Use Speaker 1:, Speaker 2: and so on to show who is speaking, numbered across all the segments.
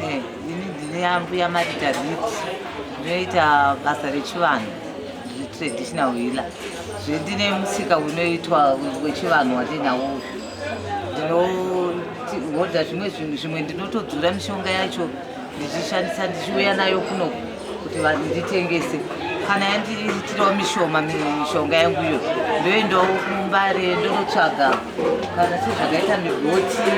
Speaker 1: Eh, ini ndine ambuya marita rit ndinoita basa rechivanhu traditional healer zvendine musika unoitwa wechivanhu wandinawo ndinohodha zvimwe zvinhu zvimwe ndinotodzura mishonga yacho ndichishandisa ndichiuya nayo kunoku kuti nditengese kana yandiitirawo mishoma mishonga yangu iyo ndoendawo kumbare ndonotsvaga kana sezvakaita migoti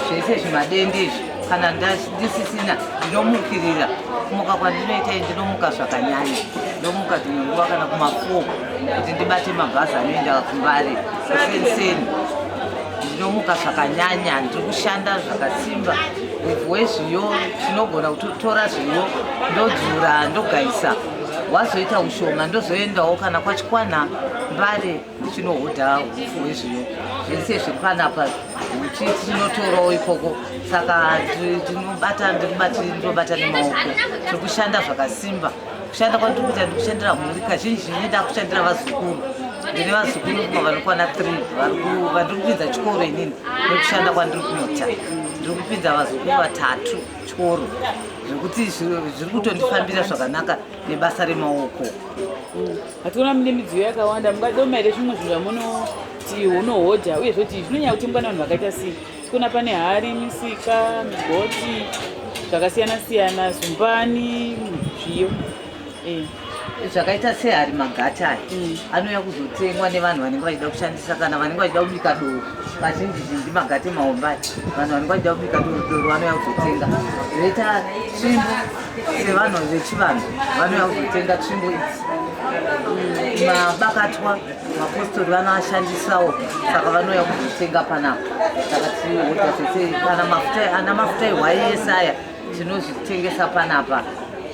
Speaker 1: zvese zvimadende izvi kana ndisisina ndinomukirira kumuka kwandinoita i ndinomuka zvakanyanya ndomuka dzimwe nguva kana kumafoo kuti ndibate mabhazi anoenda kumbare kusenseni ndinomuka zvakanyanya ndiri kushanda zvakasimba Muvhu wezviyo tinogona kutotora zviyo ndodzura ndogaisa wazoita ushoma ndozoendawo kana kwachikwana mbare chinohodha upfu hwezviyo zvese zviri panapa uchi tinotorawo ikoko saka tinobata ndinobata nemaoko tiri kushanda zvakasimba kushanda kwandiri kuita ndi kushandira mhuri kazhinji zhinji ndakushandira vazukuru ndine vazukuru kuma vanokwana three vandiri kupinza chikoro inini nekushanda kwandiri kuita ndiri kupinza vazukuru vatatu chikoro zvekuti zviri kutondifambira zvakanaka nebasa remaoko
Speaker 2: hationa mune midziyo yakawanda mungadiwo maire zvimwe zvinhu zvamunoti unohodha uye zvoti zvinonyaya kutengwa nevanhu vakaita sei Kuna pane hari, misika, migoti zvakasiyana siyana, zumbani, zviyo eh.
Speaker 1: zvakaita sehari magati aya mm. anouya kuzotengwa nevanhu vanenge vachida kushandisa kana vanenge vachida kubika doro vazhinji zhinji magati maombai vanhu vanenge vachida kubika doro doro vanouya kuzotenga zvoita tsvimbo sevanhu vechivanhu vanouya kuzotenga tsvimbo idzi mm. mabakatwa mapostori vanoashandisawo saka vanouya kuzotenga panapa takatiota tese kana mafuta ana mafuta ehwaiyese aya tinozvitengesa panapa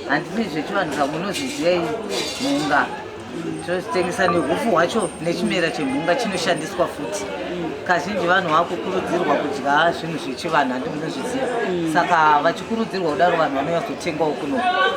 Speaker 1: handini zvechivanhu zva munozviziva iyi mhunga tinozvitengesa nehufu hwacho nechimera chemhunga chinoshandiswa futi kazhinji vanhu vakukurudzirwa kudya zvinhu zvechivanhu handi munozviziva saka vachikurudzirwa kudaro vanhu vanonyazotengawo kuno